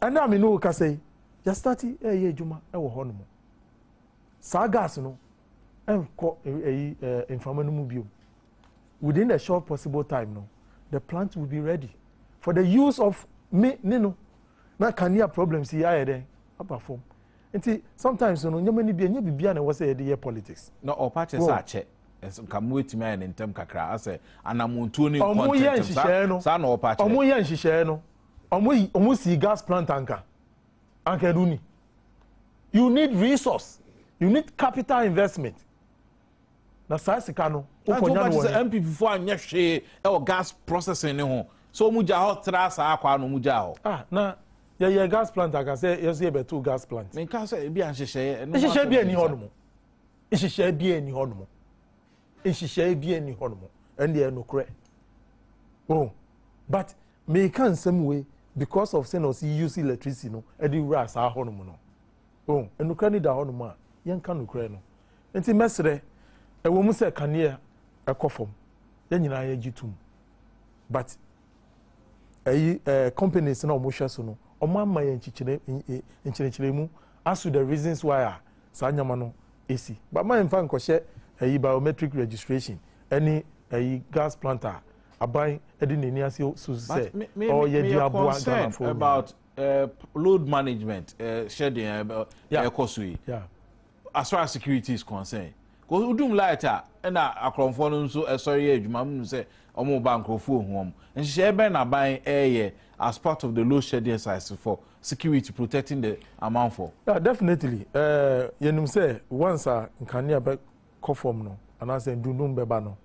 Ɛnnɛ a me ne wo rekasa yi, yɛastate reyɛ adwuma wɔ hɔnom. Saa gas no nkɔ ɛyi mframa no mu bio. Within the short possible time no, the plant will be ready for the use of me ne no. Na kanea problems yi ayɛ dɛn aba fam. Nti sometimes no nneɛma no bi ɛnyɛ biribiara na ɛwɔ sɛ yɛde yɛ politics. Na ɔpa kyɛ sɛ akyɛ nka mo etumi ayɛ ne ntɛm kakra asɛ anamontuo ne nkɔ ntɛntɛm saa na ɔpa kyɛ. Ɔmo yɛ nhyehyɛɛ no. Ɔmo yi ɔmo sii gas plant anka anka ɛno ni. You need resource, you need capital investment. Na saa sika no wokɔ nya no wɔ he? NPP fo anyɛ hwee ɛwɔ gas processing ne ho sɛ ɔmo gya hɔ tra saa akwa na ɔmo gya hɔ. Ah na yɛyɛ gas plant anka sɛ yɛso yɛbɛto gas plant. Menka sɛ ebi a nhyehyɛeɛ. Nhyehyɛeɛ bi ani hɔ nom. Nhyehyɛeɛ bi ani hɔ nom. nhyehyɛe bi nni hɔnom ɛndeɛ nokorɛ oh but meka nsɛm wei because of sɛ na ɔsi use electricity no ɛde wura saa hɔnom no oh nokorɛ no da hɔnom a yɛnka nokorɛ no nti mɛsrɛ ɛwɔ mu sɛ kaneɛ ɛkɔ fam yɛn nyinaa yɛgye tum but ɛyi ɛɛ companies na wɔn hwɛ so no wɔn ama yɛn nkyekyere nkyerɛkyerɛmu as to the reasons why a saa nneɛma no esi but maa nfa nkɔhyɛ ɛyi biometric registration ɛne ɛyi gas plant a aban ɛde n'ani ase so sɛ ɔyɛ di aboa ghanafoɔ about uh, load management uh, hyɛ deɛ ɛkɔ so yi. Yeah. as far as security is concerned cause wodum light a ɛna akorɔmfoɔ no nso ɛsɔre yɛ adwuma mu sɛ wɔn ba nkorɔfoɔ ohu wɔn nhyehyɛeɛ bɛn na aban ɛreyɛ as part of the load shedding exercise for security protecting the amanfoɔ. Yeah, definitely ɛɛ eh, yɛnum sɛ once a nkanea bɛ kɔ fam no anaasɛ ndundum bɛba no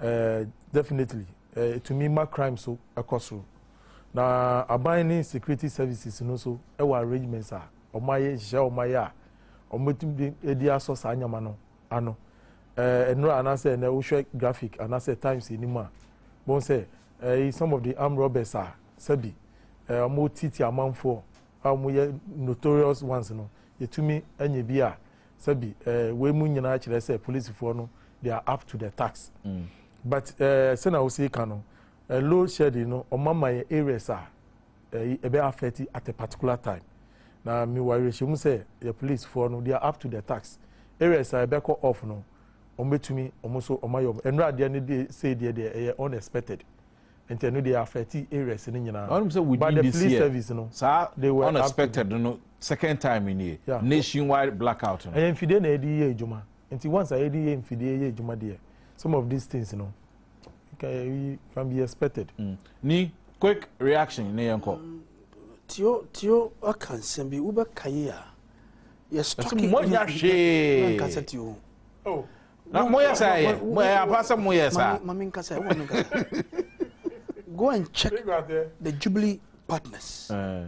ɛɛ eh, definitely ɛɛ eh, etumi ma crime so ɛkɔ soro na aban ne security services no so ɛwɔ arrangements a wɔn ayɛ nhyehyɛ wɔn ayɛ a. wɔbɛtumi de adi asɔ saa nneɛma no ano. Eh, nnora anaasɛ ɛnɛ wohwɛ graphic anaasɛ times anim a bɔn sɛ eh, some of the armed robbers a sɛbi eh, wɔtiti amanfoɔ a wɔyɛ notorious ones no yɛtumi anya bi a sɛbi eh, wei mu nyinaa kyerɛ sɛ polisifoɔ no they are up to the tax mm. but eh, sɛna wosi ka no eh, load shedding no ɔmama yɛ areas a ɛyi ɛbɛ affect at a particular time na mi wɔ awerɛhyɛmu sɛ yɛ police foɔ no they are up to the tax areas a ɛbɛ kɔ off no wɔn bɛ tumi wɔn nso wɔn ayɛ wɔn nnura adeɛ no de sei deɛ deɛ ɛyɛ unexpected nti ɛno deɛ affect areas no nyinaa wɔn sɛ within the police service no saa unexpected no second time ni yɛ nationwide blackout no ɛyɛ mfidie na yɛde yɛ adwuma nti once a yɛde yɛ mfidie yɛ adwuma deɛ some of these things no. you can be expected. Mm. Ni quick reaction ne yɛn kɔ. Tio tio aka nsɛm bi wobɛka yi a. Yɛ stɔki mo nya hwee. Na nkasa tio. Oh. Na mo yɛ sɛ yɛ mo yɛ apa sɛ mo yɛ sa. Mami nkasa ɛwɔ mi nkasa. Go and check the Jubilee partners. Uh.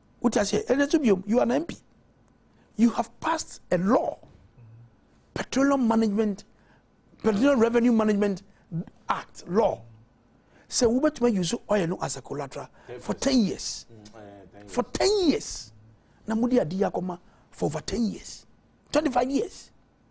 wote aseɛ ɛnɛ nso biom you are an mp you have passed a law petroleum management petroleum revenue management act law sɛ wobɛtumi ayi so ɔyɛ no as a collateral for ten years for ten years na mode adi akɔma for over ten years twenty five years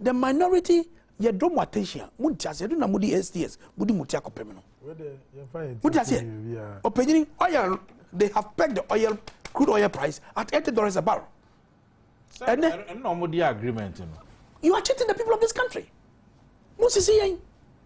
The minority yɛ dɔ mo attention a mo nti aseɛ do na mo di STS mo di mo ti akɔpem no mo ti aseɛ ɔpanyini oil they have pegged the oil crude oil price at eighty dollars a barrel. ɛnɛ ɛnna wɔn di agreement no. you are cheating the people of this country mo sisi yɛn.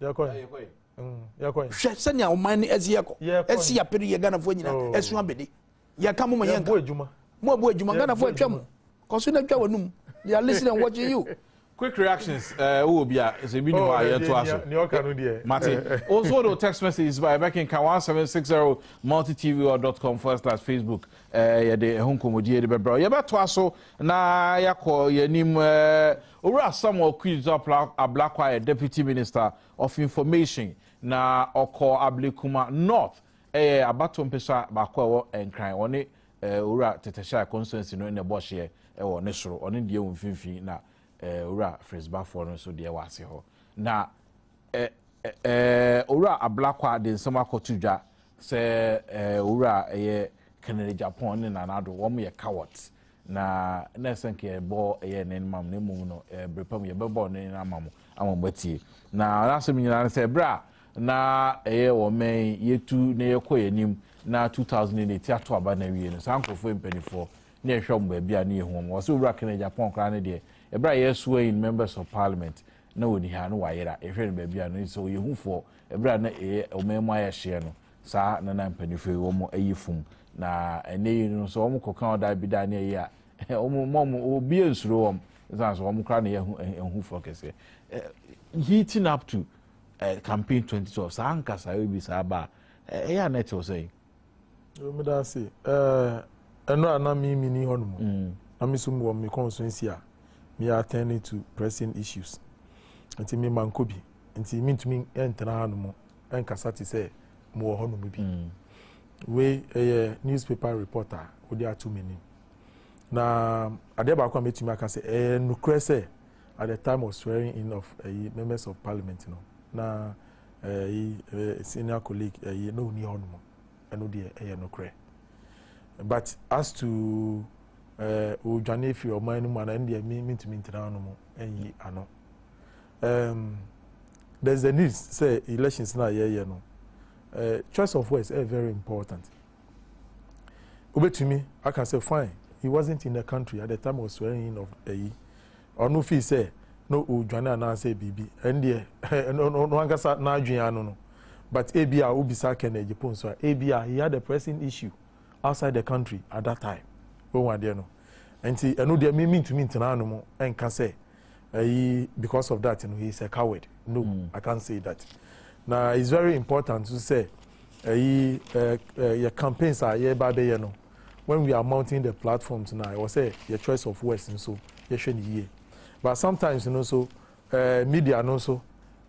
hwɛ sɛnea ɔman no ɛsi yɛkɔ ɛsi apere yɛ ghanafoɔ nyina oh. ɛso abɛde yɛka mo ma yɛnka mo abu adwuma ghanafoɔ atwa mu kɔso no atwa w'anum they are listening and watching you quick reactions eh, wowɔ bi a sɛ bi ne hɔ a yɛtoa so mate wo nso wode text messages ba ɛbɛkenka 1760 multitv.com forward slash facebook eh, yɛde ɛho nkɔmmɔdie de bɛbrɛ yɛbɛtoa so na yɛakɔ yɛanim eh, Owura Samuel Quidzu Ablakwa yɛ Deputy Minister of Information na ɔkɔ Ablekuma North, ɛyɛ abatoɔ mpesua baako a ɛwɔ Nkran. Ɔne Owura Tetehyai Constituency no na ɛbɔ hyeɛ wɔ ne soro, ɔno deɛ wɔ mfimfini na Owura Fritz Bafoɔ no nso deɛ wɔ ase hɔ. Na Owura Ablakwa de nsɛm akɔto dwa sɛ Owura ɛyɛ Kennedy Agyapong ne Nana Addo, wɔn yɛ cowards. na na ɛsɛ nka yɛbɔ ɛyɛ ne ma mu na mmom no ɛbere pam yɛbɛbɔ ne ama mu ama mu atie na n'asɛm nyinaa no sɛ ɛberɛ a na ɛyɛ wɔn mɛn yɛtu na yɛkɔ yɛn anim na 2008 ato aba na awie no saa nkurɔfoɔ mpanimfoɔ ne ɛhwɛ wɔn baabi a ne yɛ wɔn wɔsɛ owura kene japan koraa ne deɛ ɛberɛ a yɛsoa in members of parliament na wɔni ha no wayera yɛhwɛ no baabi a no sɛ ɔyɛ hufoɔ ɛberɛ a na ɛyɛ ɔman mu ayɛ hyeɛ no Saa na na mpanyinfo yi wɔn ayi fun na ɛnɛ yi no sɛ wɔn kɔ kan ɔdaa bi daa ne ayi a wɔn mɔ wɔn obi yɛ nsuro wɔn ɛsan so wɔn kora ne yɛ ɛhu fɔ kɛseɛ heating up to uh, campaign 2012 saa nkasa yɛ bi saa ba ɛyɛ anɛ te ɔsɛ yi. ɛmi da ase ɛɛ ɛnura na mi mi ni hɔ nom mm. na mi so mu wɔ mi kɔn so nsi a mi yɛ attending to pressing issues nti mi ma nko bi nti mi ntumi ntena ha nom ɛnkasa te sɛ mowɔ hɔnom bi mm. wei ɛyɛ newspaper reporter wode ato m'anim na adeɛ baako a mɛtumi aka sɛ ɛyɛ nokorɛ sɛ at the time of swearing in of ɛyi members of parliament no na ɛyi eh, eh, senior colleague ɛyi na ɔni hɔnom ɛno deɛ ɛyɛ nokorɛ but as to odwane eh, firi ɔman no mu anaa ɛno deɛ mentumi ntena hɔnom ɛnyi ano Um, there's a need sɛ elections na yɛyɛ no uh, choice of words ɛyɛ very important wobɛtumi aka sɛ fine he wasn't in the country at the time of swearing in of ayi ɔno fii sɛ na ɔdwane anaasɛ biribi ɛndeɛ ɔno ankasa n'adwene ano no but ebi a wobisa kɛn agye po nso a ebi a he had a pressing issue outside the country at that time wɔn adeɛ no nti ɛno deɛ mi mi ntumi ntena ano mu ɛnka sɛ ɛyi because of that no he is a coward no mm. i can't say that na it's very important to say ɛyi ɛ ɛ yɛ campaigns a yɛ ba bɛ yɛ no when we are mounting the platforms na ɛwɔ sɛ yɛ choice of words nso yɛhwɛ no yie but sometimes no nso ɛɛ media no nso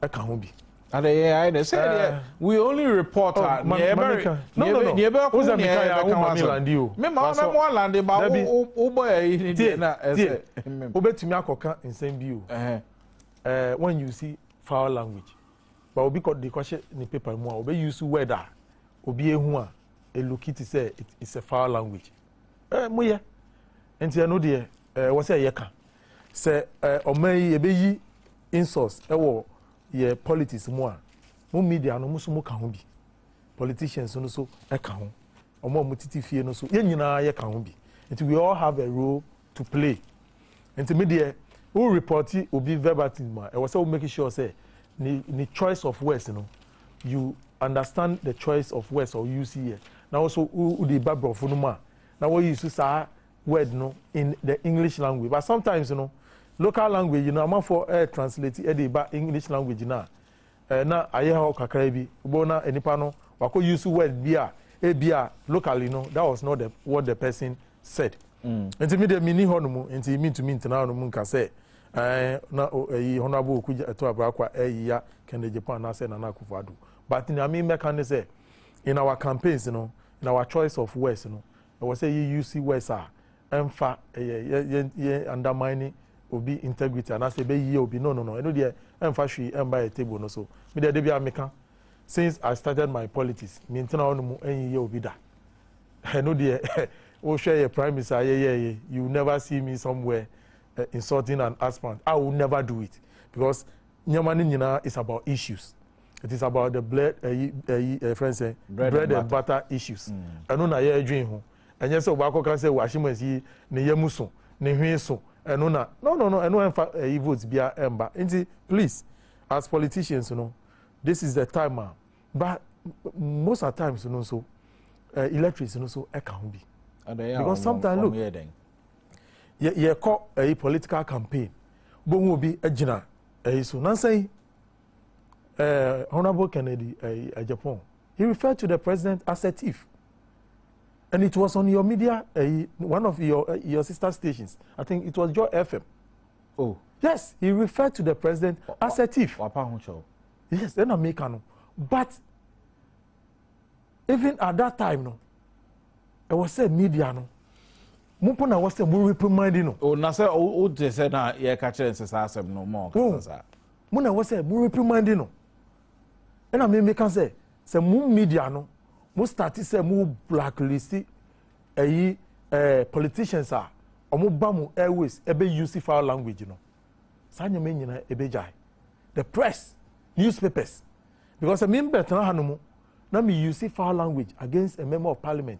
ɛka ho bi. Adeyɛ ayɛ dɛ sɛ deɛ we only report a deɛ ɛbɛre deɛ ɛbɛkɔ mu deɛ ɛbɛka ho asɛm me ma ɔna mo alande ba wo wo bɔ yɛ yi ne deɛ na ɛsɛ wobɛtumi akɔka nsɛm bi o wɔn use foul language ba obi kɔ de kɔhyɛ ne paper mu a obi use word a obi ehu a eluki ti sɛ it's a foul language ɛɛ mo yɛ nti ɛno deɛ Ɛwɔ sɛ yɛ ka sɛ ɔman yi yɛbɛyi insults wɔ yɛ politics mu a, mo media no mo nso mo ka ho bi, politicians no nso ka ho, ɔmo a mo titi fie no nso, yɛn nyinaa yɛ ka ho bi. Nti we all have a role to play. Nti me deɛ wo report obi verbatim a, ɛwɔ sɛ wo make sure sɛ ne, ne choice of words no, you understand the choice of words or use yɛ, na wo nso wo de ba borɔfo no mu a, na wɔyi so saa word no in the English language but sometimes no local language no amanfoɔ ɛɛ translate ɛde ba English language no a ɛɛ na ayɛ hɔ kakra bi wobɛhu na nipa no wakɔ use word bi a ebi a locally no that was not the what the person said mm. nti mi deɛ mi ni hɔ no mu nti mi ntumi ntena hɔ no mu nka sɛ ɛɛ na ɛyi honourable oku ɛto abrakwa ɛyi ya kɛndɛ japan anaasɛ nana akufo ado but nea mi mɛka ne sɛ in our campaigns no in our choice of words no ɛwɔ sɛ yɛ use words a ɛmfa ɛyɛ yɛ yɛ yɛ undermine obi integrity anaasɛ ɛbɛ yie obi no no no ɛno deɛ ɛmfa hwee ɛmba yɛ table no so me deɛ debia meka since I started my politics me ntena hɔ no mu ɛnyiyɛ obi da ɛno deɛ wohwɛ yɛ primaries a yɛyɛɛyɛ you never see me somewhere uh, insulting an aspirant I will never do it because nneɛma no nyinaa is about issues it is about the blood ɛyi ɛyi ɛfrɛ nsɛ bread and butter issues mm. ɛno na yɛredwen ho ɛnyɛ sɛ ɔbaako kan sɛ wɔahyem asi ne yɛ mu so ne hwee so ɛno na no no no ɛno ɛnfa ɛyi vote bia ɛnba nti please as politicians no this is the time ah but most of times no nso uh, eh, electrics no so ɛka ho bi because sometimes look yɛkɔ ɛyi political campaign bohu obi gyina ɛyi so nansan uh, Honorable Kennedy uh, eh, Ajapon, he referred to the president as a thief. And it was on your media, uh, one of your, uh, your sister stations. I think it was Joy FM. Oh. Yes, he referred to the president wa, as a thief. Yes, then I make no. But even at that time, no, it was said media, no. mo mpo na wɔ sɛ mo reprimand no. o na sɛ o o te sɛ na yɛ ka kyerɛ nsesa asɛm no mo ɔkasa saa. mo na ɛwɔ sɛ mo reprimande no ɛna me meka sɛ sɛ mo media no mo start sɛ mo blacklist ɛyi eh, ɛɛ eh, politicians a wɔn ba mo airways ɛbɛ use foul language no saa nyɛma nyinaa ɛbɛ gyae the press newspapers because me mbɛ tena ha no mu na me use foul language against a member of parliament